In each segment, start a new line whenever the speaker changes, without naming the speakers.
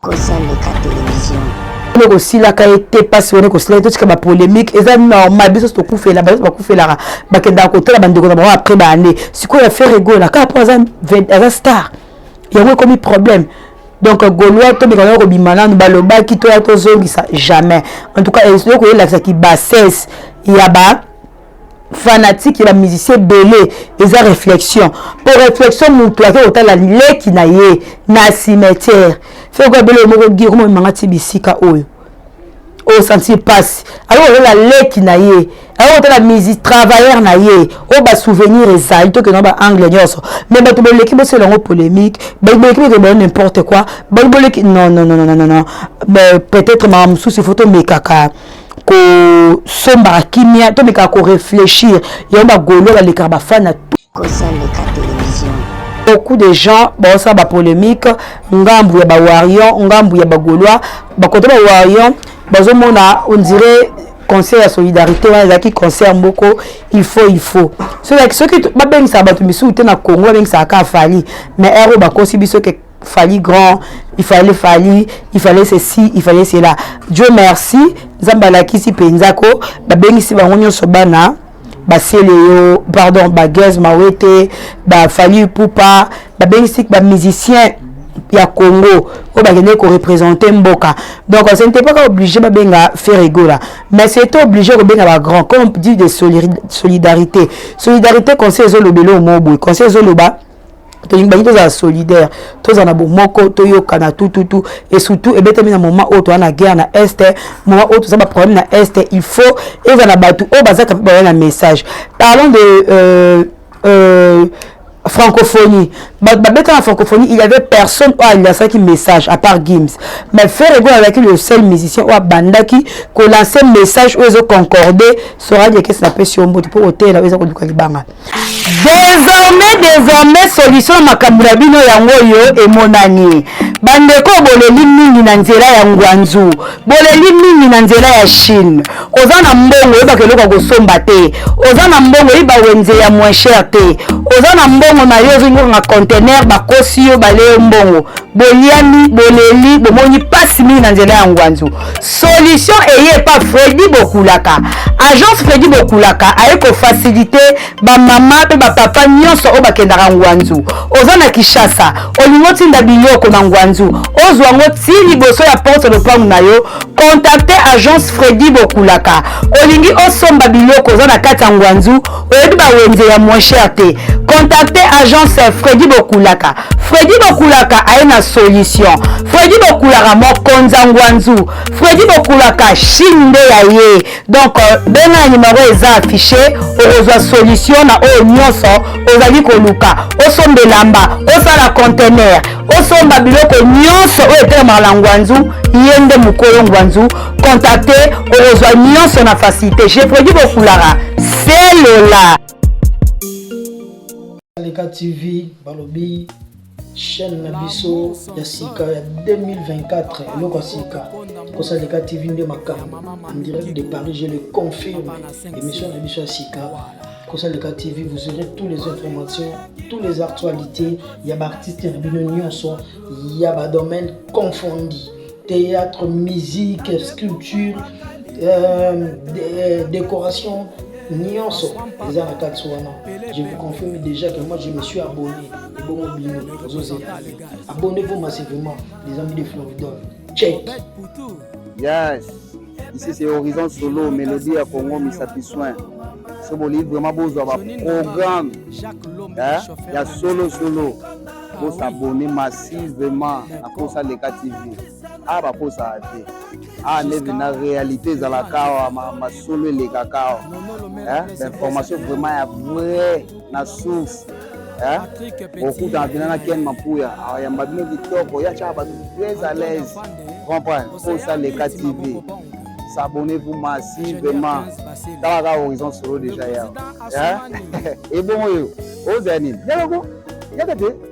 kozaleka television oyo kosilaka ye te mpasi wana ekosila ye totika bapolémique eza normal biso nyonso tokufela bato bakufelaka bakendaka kotala bandeko na bango après baannée sikoyo ya fere egola kaka mpo aza star yango ekomi problème donc golois tomeka nayo kobima nanu balobaki toya tozongisa jamais en tout cas eloko elakisa ki bassesse ya ba fanatique ya bamusicien ebele eza réflexion mpo réflexion motu ake kotala leki na ye na cimetière feko ebele oyo moko gi okomomemanga ti bisika oyo osantir oh, mpasi aye kotala leki na ye aye kotala misi travailleur na ye oyo oh, basouvenir ezali tokenda baangle nyonso mais bato boleki bosala yango polémique bato boleki bokende bayo n'importe quoi bato boleki non non non non non peut-être mawa mosusu ifo tomekaka kosombaka kimia tomekaka koreflechir yango bagolo balekaka bafana beaucoup de gens baosala bapolémique ngambu ya bawarion ngambu ya bagolois bakote bawarion bazomona ondire concert ya solidarité wana ezalaki concert moko il faut il faut soki babengisaka bato misusu te na congo babengisaka kaka fali mais ero bakosi biso ke fali grand il fallait fali il fallait ceci il fallait cela dieu merci nzambe alakisi mpenza ko babengisi bango nyonso bana basele yo pardon bagese mawete bafali pupa babengisi bamusicien ya congo oyo bakendeki korepresente mboka donc ce n'était pas obligé babenga ferregola mais c'était obligé kobenga bagrand comme dit de solidarité solidarité conseil ezoloba eloo moo boye conseil ezoloba tolingi bangi tozala solidaire tozala na bomoko toyokana tututu et surtout ebetami na moment oyo toza na guerre na est moment oyo toza baproblème na est il faut eza na bato oyo bazaka mpe baya na message parlons de euh, euh, francophonie bato babeta na francophonie il y avait personne oyo alasaki message à part gims mais ferre ego azalaki le seul musicien oyo abandaki kolanse message oyo ezoconcorde soradi ekesi na pesi yo mbote mpo oteyela oyo eza koluka libanga Désormais, désormais, solution na makambo na bino yango oyo emonani. Bandeko boleli mingi na nzela ya Ngwanzu, boleli mingi na nzela ya Chine. Oza na mbongo oyebaka eloko ya kosomba te, oza na mbongo oyiba wenze ya moins cher te, oza na mbongo na yo ozingi kokanga conteneur, bakosi yo, balie yo mbongo, boliami, boleli, bomoni pasi mingi na nzela ya Ngwanzu. solution eye epa fredi bokulaka agence fredi bokulaka aye kofasilite bamama mpe bapapa nyonso oyo bakendaka ngwanzu oza na kinshasa olingi otinda biloko na ngwanzu ozwa yango ti liboso ya porte lopango na yo kontakte agence fredi bokulaka olingi osomba biloko oza na kati ya ngwanzu oyebi bawenze ya moins cher te contacte agence fredi bokulaka fredi bokulaka aye na solution fredi bokulaka mokonza ngwanzu fredi bokulaka chine nde ya ye donc euh, benga ya nimero eza affiche okozwa solution na oyo nyonso ozali koluka osomba elamba osala contener osomba biloko nyonso oyo etelemaka na ngwanzu ye nde mokolo ngwanzu contacte okozwa nyonso na facilité je produit bokulaka selola
leka tv balobi chaîne na biso ya sika ya 2024 eloko ya sika kosala leka tv nde makambo en direct de paris je le confirme émission na biso ya sika kosalika tv vous aurez tous les informations tous les actualités ya baartiste na bino nyonso ya badomaine confondi theatre musique sculpture euh, euh, décoration nyonso eza na kati wana je vous confirme déjà que moi je me suis abonné ebongo bino ozozela abonnez-vous massivement les amis de floridon check
yes ici c'est horizon solo melodie ya congo misapi soin so bolingi vraiment bozwa baprogramme eh, ya solo solo bosabone massivement na posa leka tv a ah, baposaka te a ah, neve na réalité ezalaka awa masolo elekaka awa eh, bainformation vraiment ya vrai na source eh? okutana mpena na ken mapuya ayamba bino kitoko ya tyaka bato très à l'aise comprendre posa leka tv s'abonner vous masi vraiment tala kaka horizon solo déjà ya ebongo oyo ozala nini yaloko yaka te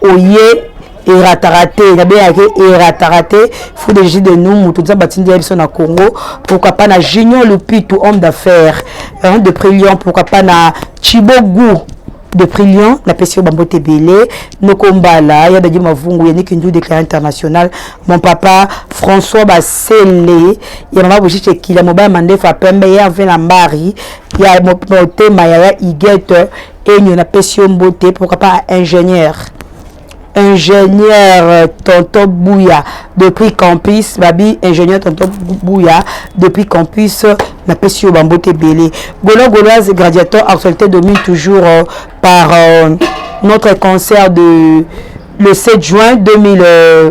oye erataka te nabengaka ye erataka te fou de jus de nous moto nzambe atindi ya biso na congo pourquoi pas na junior lupitu homme d'affaires hein, de prix lion pourquoi pas na chibo goût de prix lion napesi yo bambote ebele noko mbala ya dadi mavungu ya nikindu déclaré international mon papa françois basele ya mama bojice ekila mobali mandefu ya pembe ya vena mbari ya motema ya ya igete Enyo na pesi yo mbote pourquoi pas ingénieur ingénieur tonton Bouya depuis campus babi ingénieur tonton Bouya depuis campus na pesi yo bambote belé golo goloise gradiateur actualité domine toujours euh, par euh, notre concert de le 7 juin 2000 euh,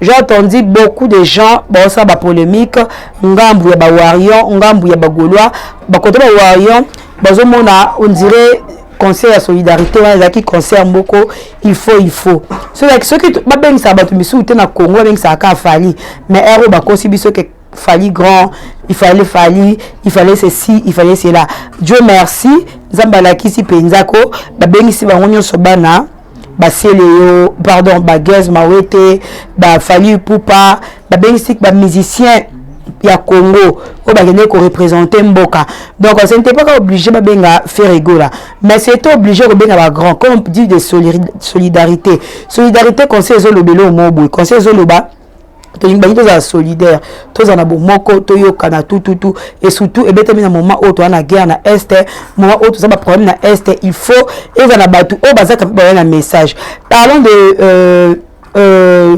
J'ai entendu beaucoup de gens baosala ba polemique ngambu ya ba Warrior, ngambu ya ba Gaulois, ba côté ba Warrior bazomona on dirait concert ya solidarité wana ezalaki concert moko il faut il faut soki soki babengisaka bato misusu te na congo babengisaka kaka fali mais ere oyo bakosi biso ke fali grand il fallait fali il fallait ceci il fallait cela dieu merci nzambe alakisi mpenza ko babengisi bango nyonso bana basele yo pardon bagez mawete bafali ipupa babengisi ba musicien ya congo oyo bakendeki korepresente mboka donc ce n'était pas ka oblige babenga ferregola mais c'était oblige kobenga bagrand comme dit de solidarité solidarité conseil ezoloba eloo moo boye conseil ezoloba tolingi bangi tozala solidaire tozala na bomoko toyokana tututu et surtout ebetami na moment oyo toza na guerre na est moment oyo toza baproblème na est il faut eza na bato oyo bazaka mpe baya na message parlons de euh, euh,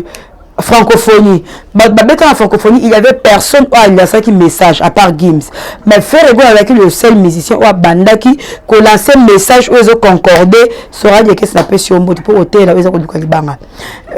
francophonie bato babeta na francophonie il y avait personne oyo alasaki message à part gims mais ferre ego azalaki le seul musicien oyo abandaki kolanse message oyo ezoconcorde soradi ekesi na pesi yo mbote mpo oteyela oyo eza koluka libanga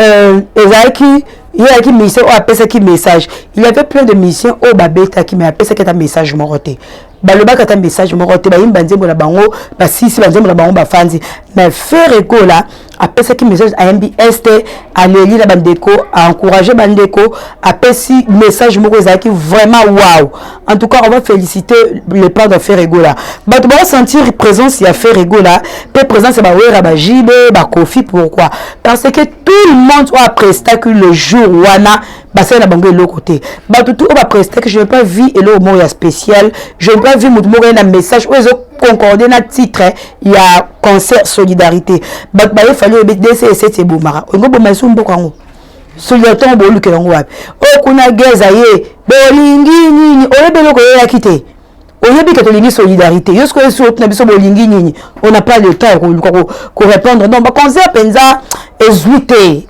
euh, ezalaki ye ayaki mission oyo apesaki message il y avait plein de mission oyo babetaki mais apesaki ata message moko te balobaki ata message moko te bayimbi banzembo na bango basisi banzembo na bango bafanzi mais fere ekola apesaki message ayembi este aleli na bandeko aencourage bandeko apesi message moko ezalaki vraiment wow En tout cas, on va féliciter les plans de Ferregola. Bah, tu vas sentir présence à Ferregola, puis présence à Bawera, bah, JB, bah, Kofi, pourquoi Parce que tout le monde a presté que le jour où on a basala na bango eloko te bato tu oyo baprestake je n'ai pas vu eloko moko ya spécial je n'ai pas vu moto moko ye na message oyo ezo concorde na titre ya concert solidarité bato baye fali oyebi dcs ebomaka olingo boma esu mboka yango suliatongo bolukela yango wapi oyo oh, kuna geza ye bolingi nini oyebi eloko oyeyaki te oyebi ke tolingi solidarité yo sikoyo esi otuna biso bolingi nini on n'a pas le temps ya koluka korépondre donc baconcert mpenza ezwi te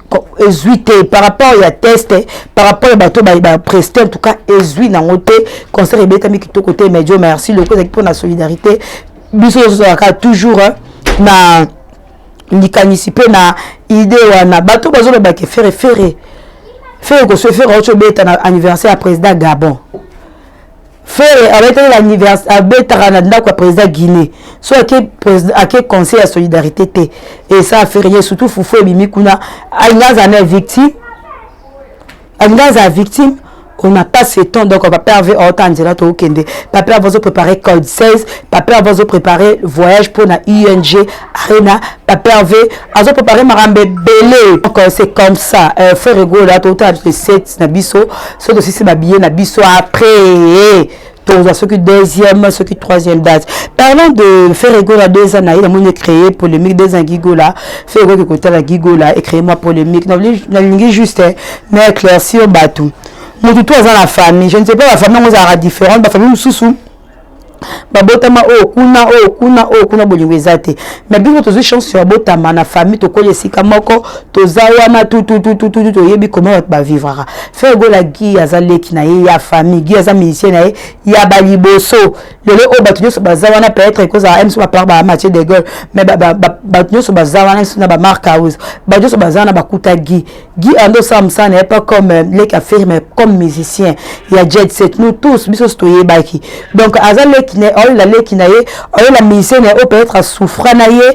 ezwi te par rapport ya test par rapport ya bato bapreste en tout cas ezwi nango te concert ebetami kitoko te mais dio merci loko ezalaki mpo na solidarité biso tozozalaka toujours na likanisi mpe na idee wana bato bazoloba ke fere fere fere kosue fere auti obeta na anniversaire ya président gabon fere abetaki na anniversaire abetaka na ndako ya président guinée so ake ake conseil ya solidarité te esa fere ye surtout fufu ebimi kuna alinga aza na victime alingi azala victime on n'a pas ce temps donc papa herve aota nzela tokende papa herve azoprépare code 16 papa herve azoprépare voyage mpo na ung arena papa herve azoprépare makambo ebele donc euh, c'est comme ça euh, frère egola totala biso 7 na biso so tosisi babillet na biso après tokozwa soki deuxième soki troisième date parlant de ferre gola deux ans na ye namoni ecreye polémique deux ans gigola ferre gola kekotala gigola ecreye mwa polémique nalingi juste na éclaircir bato motu to aza na famille je ne sais pas bafamille yango ezalaka différente bafamille mosusu babotama oyo kuna oyo kuna oyo kuna bolingo eza te mais bino tozwi chance ya botama na famille tokoli esika moko toza wana tututututu toyebi koma bato bavivraka Frère Gola Guy aza leki na ye ya famille Guy aza musicien na ye ya ba liboso lelo oyo bato nyonso baza wana peut-être ekozala mso bapart ba Mathieu de Gaulle mais bato nyonso baza wana mso na ba Marc House bato nyonso baza wana bakuta Guy Guy ando osala mosala na ye pas comme euh, leki aferi mais comme musicien ya jet set nous tous biso nyonso toyebaki donc aza leki na ye aolela leki na ye aolela musicien na ye oyo peut-être asouffra na ye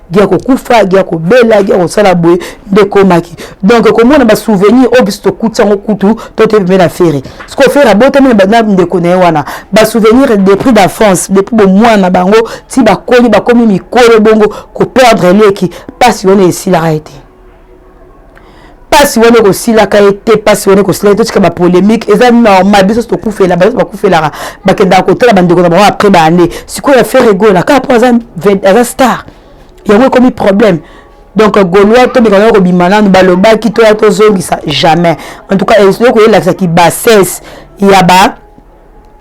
gia kokufa gia kobela gia kosala boye nde ekomaki donc komona basouvenir oyo biso tokuti yango kutu to toyebi mpe na fere siko fere abotami na ndeko na ye wana basouvenir depuis d'enfance depuis bomwana na bango ti bakoli bakomi mikolo bongo koperdre eleki mpasi wana esilaka ye te pasi wana ekosilaka ye te pasi wana ekosila ye totika ba polemique eza normal biso so tokufela bayo bakufelaka bakendaka kotala bandeko na bango après baane sikoyo ya fere egola kaka mpo aza star yango ekomi problème donc golois tomeka nao kobima nanu balobaki toya tozongisa jamais en tout cas ezoki koyelakisa ki bassesse ya ba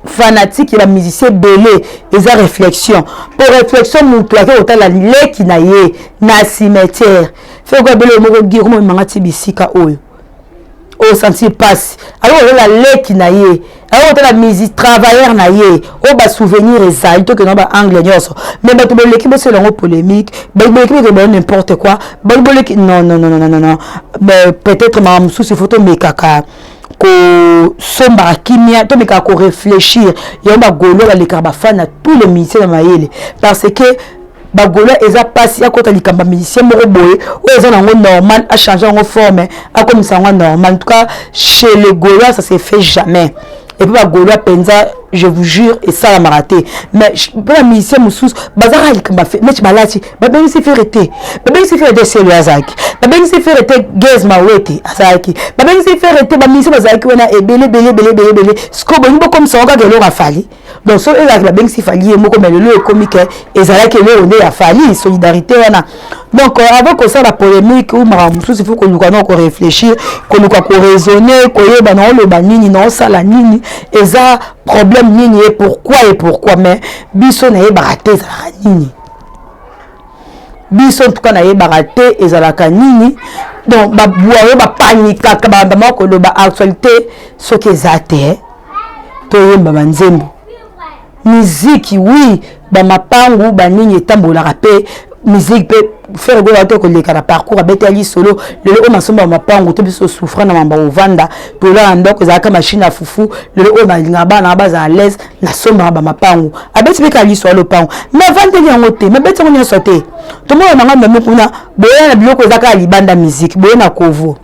fanatique ya bamusicien ebele eza réflexion mpo réflexion motu ake kotala leki na ye na cimetière feko ebele oyo moko gi okomomemanga ti bisika oyo osantir oh, mpasi aye kotala leki na ye aye kotala misi travailleur na ye oyo oh, basouvenir ezali tokenda baangle nyonso mais bato boleki bosala yango polémique bato boleki bokende bayo n'importe quoi bato boleki non non non non non peut-être mawa mosusu ifo tomekaka kosombaka kimia tomekaka koreflechir yango bagolo balekaka bafani na tous les musicien ya mayele parce que bagola eza mpasi akota likambo ya musicien moko boye oyo eza nango normal achange yango forme akomisa yango normal en tout cas chez le gola ça se fait jamais epuis bagolois mpenza je vous jure esalamaka te mais mpo na musicien mosusu bazalaka likambo neti balati babengisi fere te babengisi fere te selo azalaki babengisi fere te gaz mawete azalaki babengisi fere te baminisi bazalaki wana ebele ebele ebele ebele ebele sikoyo bolingi bokomisa ngo kaka eloko afali donc soki ezalaki babengisi fali ye moko me lelo ekomi ke ezalaki eloko nde ya fali solidarité wana donc euh, avant kosala polémique ou makambo mosusu ifo koluka nao korefléchir koluka koraisonne koyeba naoloba nini naosala nini eza problème nini ye pourquoi ye pourquoi mais biso nayebaka te ezalaka nini biso ntuka nayebaka te ezalaka nini donc babuayo bapanikaka babandamaka koloba actualité soki eza te toyemba banzembo miziki wi bamapangu banini etambolaka mpe miziki mpe fere gola te koleka na parcours abeta ya lisolo lelo oyo masomba mapangu to biso souffra na mamba ovanda tolala ndako ezalaka mashine ya fufu lelo oyo balingaka bana bazala laise nasombaka bamapangu abeti mpe kaka liso ya lopango navandeli yango te mabeti yango nyonso te tomona nanga mame kuna boya na biloko eza kaka libanda miziki boye na kovo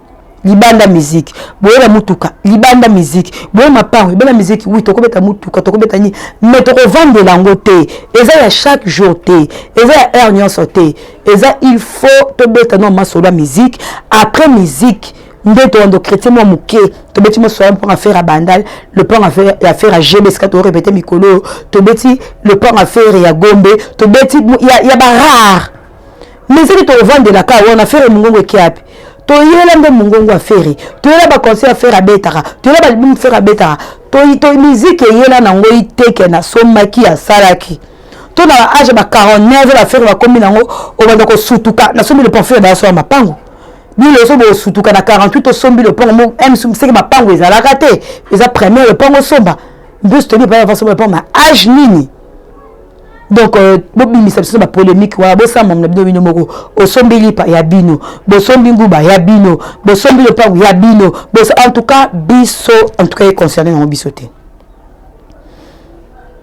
libanda miziki boye na motuka libanda miziki boye mapango libanda miziki wi tokobeta motuka tokobeta nini mai tokovandela yango te eza ya chaque jour te eza ya heure nyonso te eza il faut tobeta no masolo ya miziki après miziki nde toando chrétien mwa moke tobeti moswala mpo affaire ya bandal lopango ya affaire ya gb esika toorepete mikolo oyo tobeti lopango affaire ya gombe tobeti ya barare mais soki toovandelaka wana affaire mongongo ekiape toyela nde mongongo affaire toyela baconseil affaire abetaka toyela balibum affaire abetaka miziki eyela na yango iteke nasombaki asalaki to na baage ba 49 baaffaire bakomi na yango obanda kosutuka nasombi le parfum ya bayaso ya mapango bino ozo bosutuka na 48 osombi lopango mo eh, msumu seke mapango ezalaka te eza premier lopango osomba mbusu toyebi epai avasomba lopango ma age nini donc euh, bobimisa biso na bapolémique wana bosamba na bino bino moko osombi lipa ya bino bosombi nguba ya bino bosombi lopango ya bino en tout cas biso en tout cas econcerne yango biso te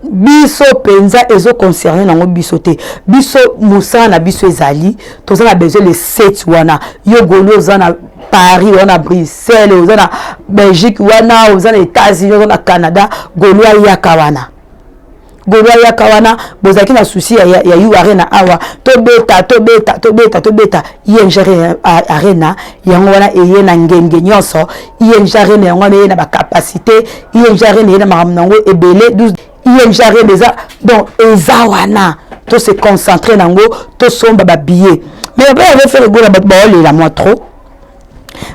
biso penza ezo concerne nango biso te biso musala na biso ezali toza na besoin le seti wana yo goli oza na paris oza na bruxelles oza na belgique wana oza na etats-unis oza na canada goli ayaka wana golo ayaka wana bozalaki na susi ya, ya, ya yu arena awa tobeta tobeta tobeta tobeta ing arena yango wana eye na ngenge nyonso ing arena yango wana eye na bacapacité ing arena eye na makambo na yango ebele ing arena eza donc eza wana to se concentre na yango tosomba babillet mais baye ave faire egola bato baolela mwa trop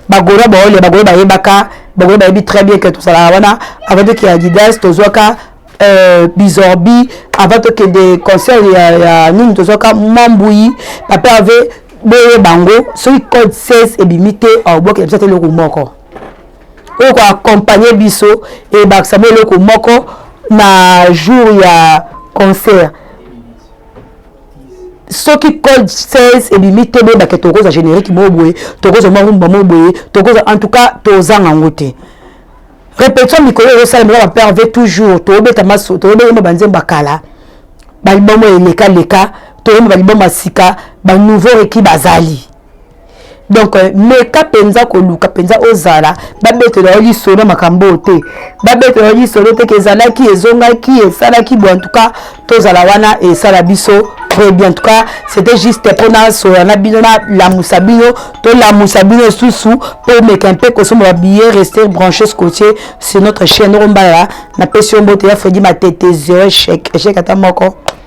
bagola baolela bagola bayebaka bagola bayebi très bien ke tozalaka wana avant toke ya didas tozwaka euh, bizorbi avant tokende concert ya, ya nini tozwaka mambui papa ave boye bango soki code 16 ebimi te aobwakela biso ata eloko moko oyo ko accompagner biso ebakisa mwa eloko moko na jour ya concert soki code 16 ebimi te boyebake tokozwa générique moko boye tokozwa mwa rumba moko boye tokozwa en tout cas tozanga yango te répétition mikolo ezosalema eza bapère ve toujours tobeta maso toyemba banzembo ya kala baliboma eleka leka toyemba baliboma ya sika banouveau reki bazali donc euh, meka mpenza koluka mpenza ozala babetela yo lisolo makambo oyo te babetela yo lisolo te ke ezalaki ezongaki esalaki bo antuka tozala wana esala biso très bien en tout cas c'était juste mpona soya na bino nalamusa bino tolamusa bino lisusu mpo omeka mpe kosomba babillet rester branché scotier sur notre chaîne okombala napesi yo mbote ya fredi matete zero échec échec ata moko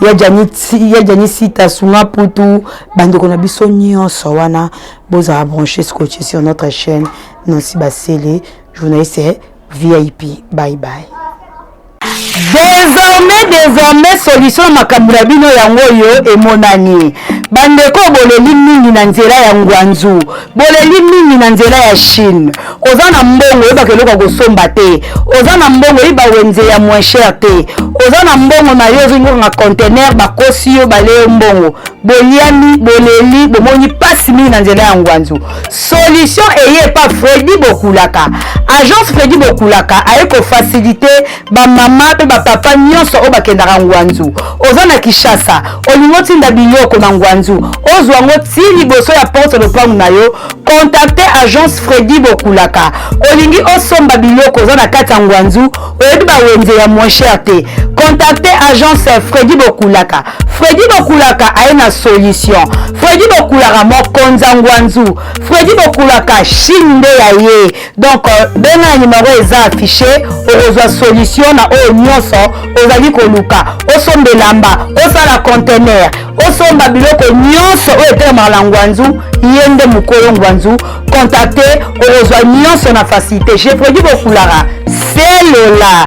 ya jani sita sunga putu bandeko na biso nyonso wana bozala branche scotche sur notre chaîne nansi basele journaliste vip bye bye désormais désormais solution na makambo na bino yango oyo emonani bandeko boleli mingi na nzela ya ngwanzu boleli mingi na nzela ya chine oza na mbongo oyebaka eloko ya kosomba te oza na mbongo oyeba wenze ya moins cher te oza na mbongo na yo ozongokanga contener bakosi yo bale yo mbongo boliami boleli bomoni mpasi mingi na nzela ya ngwanzu solution eye epa fredi bokulaka agence fredi bokulaka aye kofasilite ba mama pe ba papa nyonso oyo bakendaka ngwanzu oza na kishasa olingi otinda biloko na ngwanzu ozwa yango ti liboso ya porte lopango na yo contacte agence fredi bokulaka olingi osomba biloko oza na kati ya ngwanzu oyebi bawenze ya moins cher te contacte agence fredi bokulaka fredi bokulaka aye na solution fredi bokulaka mokonza ngwanzu fredi bokulaka chine nde ya ye donc euh, benga na numero eza affiche okozwa solution na oyo nyonso ozali koluka osomba elamba osala contener osomba biloko nyonso oyo etelemaka na ngwanzu ye nde mokolo ngwanzu contacte okozwa nyonso na facilité je produit bokulaka selola